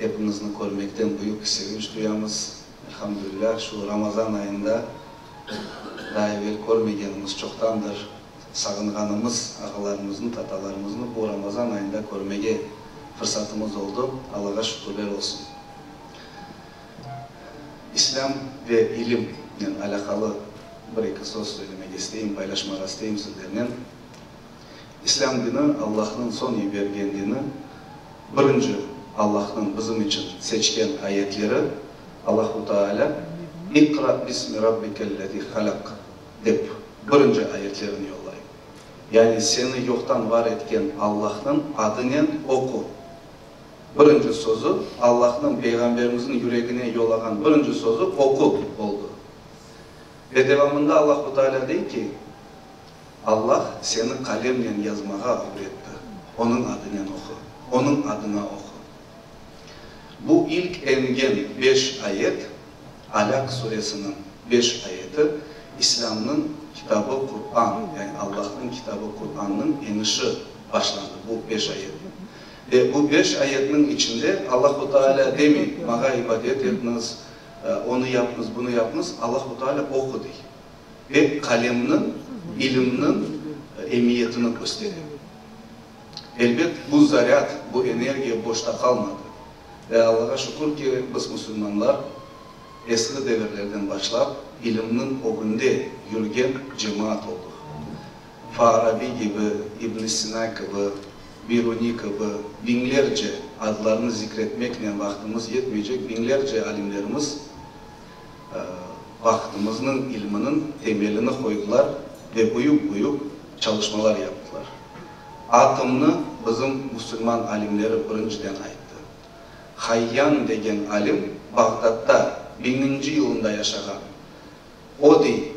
Epiñizni körmekten büyük sevinç duyamız. Elhamdülilâh, şu Ramazan ayında daa evel körmegenimiz çoqtandır sağınğanımız ağalarımıznı, tatalarımıznı bu Ramazan ayında körmege fırsatımız oldı. Allağa şükürler olsun. İslâm ve ilimnen alâqalı bir-eki söz söylemege isteyim, paylaşmağa isteyim sizlernen. İslâm dini, Allahnıñ soñ yibergen dini. Birinci, Allahnıñ bizim içün seçken ayetleri. Allahu Taalâ, İqra bismi Rabbikel-lezi halaq, dep birinci ayetlerini yollay. Yani seni yoqtan var etken Allahnıñ adınen oqu. Birinci sözü, Allahnıñ Peyğamberimizniñ yüregine yollağan birinci sözü oqu oldı. Ve devamında Allahu Taalâ dey ki. Allah seni qalemnen yazmağa ögretti, Onıñ adınen oqu, Onıñ adına oqu. Bu ilk engen beş ayet, Alâk suresiniñ beş ayeti, İslâmnıñ kitabı Qur'an, yani Allahnıñ kitabı Qur'annıñ enişi başlandı bu beş ayetnen. Ve bu beş ayetniñ içinde Allahu Taalâ demey, Maña ibadet etniz, onı yapnız, bunı yapnız, Allahu Taalâ oqu dey. ve qalemniñ, bilimniñ emiyetini köstere. Elbet, bu zarâd, bu energiya boşta qalmadı. Ve Allağa şükür ki, biz, musulmanlar, esli devirlerden başlap ilimniñ ögünde yürgen cemaat oldıq. Faarabiy kibi, İbn Sina kibi, Biruniy kibi biñlerce, adlarını zikretmeknen vaqtımız yetmeycek, biñlerce alimlerimiz, vaqıtımıznıñ ilminiñ temelini qoydılar ve büyük-büyük çalışmalar yaptılar. Atomnı bizim musulman alimleri birinciden ayttı. Hayyan degen alim Bağdatta biñinci yılında yaşağan. O dey,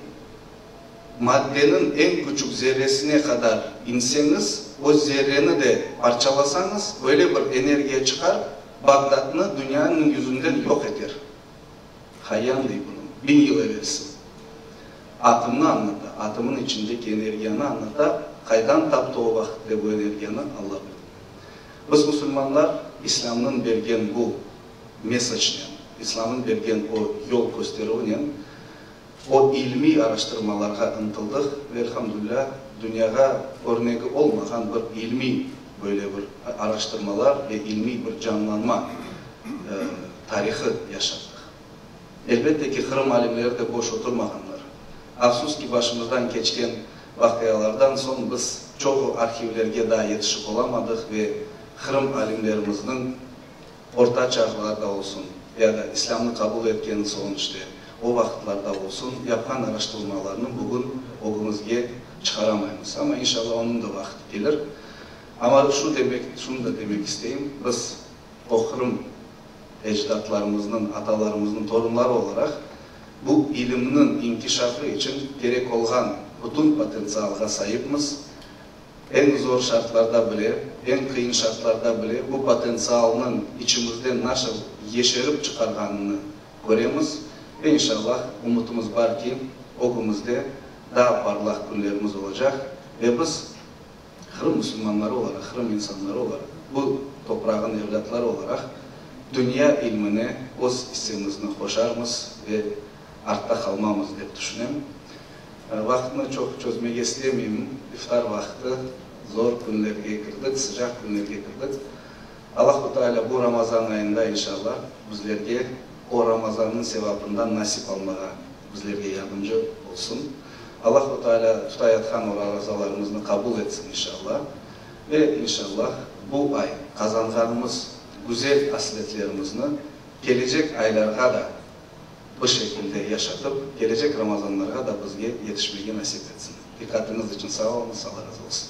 Maddeniñ eñ küçük zerresine qadar inseñiz, o zerreni de parçalasañız, öyle bir energiya çıqar, Bağdatnı dünyanıñ yüzünden yoq eter. Hayan dey bunı, biñ yıl evelsi. Atımnı añlata, atımın içindeki energiyanı añlata, qaydan taptı o vaqıtte bu energiyanı, Alla bilir. Biz musulmanlar İslâmnıñ bergen bu mesacnen, İslâmnıñ bergen o yol kösterüvinen O ilmiy araştırmalarğa ıntıldık ve elhamdülilâ dünyağa örnegi olmağan bir ilmiy böyle bir araştırmalar ve ilmiy bir canlanma tarihı yaşattık. Elbette ki, Qırım alimleri de boş oturmağanlar. Afsus ki, başımızdan keçken vaqialardan soñ biz çoğu arhivlerge daa yetişip olamadıq ve Qırım alimlerimizniñ, Orta çağlarda olsun, ya da İslâmnı qabul etkenin soñ işte, o vaqıtlarda olsun, yapqan araştırılmalarnı bugün ögümizge çıqaramaymız. Amma inşallah onıñ da vaqıtı kelir. Amma şunı demek, şunı da demek isteyim, biz o Qırım ecdatlarımıznıñ, atalarımıznıñ torunları olaraq, bu ilimniñ inkişafı içün kerek olğan bütün potentsialğa saipmiz. Eñ zor şartlarda bile, eñ qıyın şartlarda bile bu potentsialnıñ içimizden nasıl yeşerip çıqarğanını köremiz ve inşallah umutımız bar ki, ögümizde daa parlaq künlerimiz olacaq ve biz Qırım musulmanları olaraq, Qırım insanları olaraq, bu toprağın evlâtları olaraq dünya ilmine öz issemizni qoşarmız ve artta qalmamız dep tüşünem. Vaqtnı çoq çözmege istemeyim. İftar vaqtı, zor künlerge kirdik, sıcaq künlerge kirdik. Allahu Teala bu Ramazan ayında inşalla bizlerge o Ramazannıñ sevabından nasip almağa bizlerge yardımcı olsun. Allahu Teala tutayatqan o razalarımıznı qabul etsin inşalla. Ve inşalla bu ay qazanğanımız güzel asletlerimizni kelecek aylarğa da, bu şekilde yaşatıp, kelecek Ramazanlarğa da bizge yetişmege nasip etsin. Diqqatiñiz içün sağ oluñız, Alla razı olsun!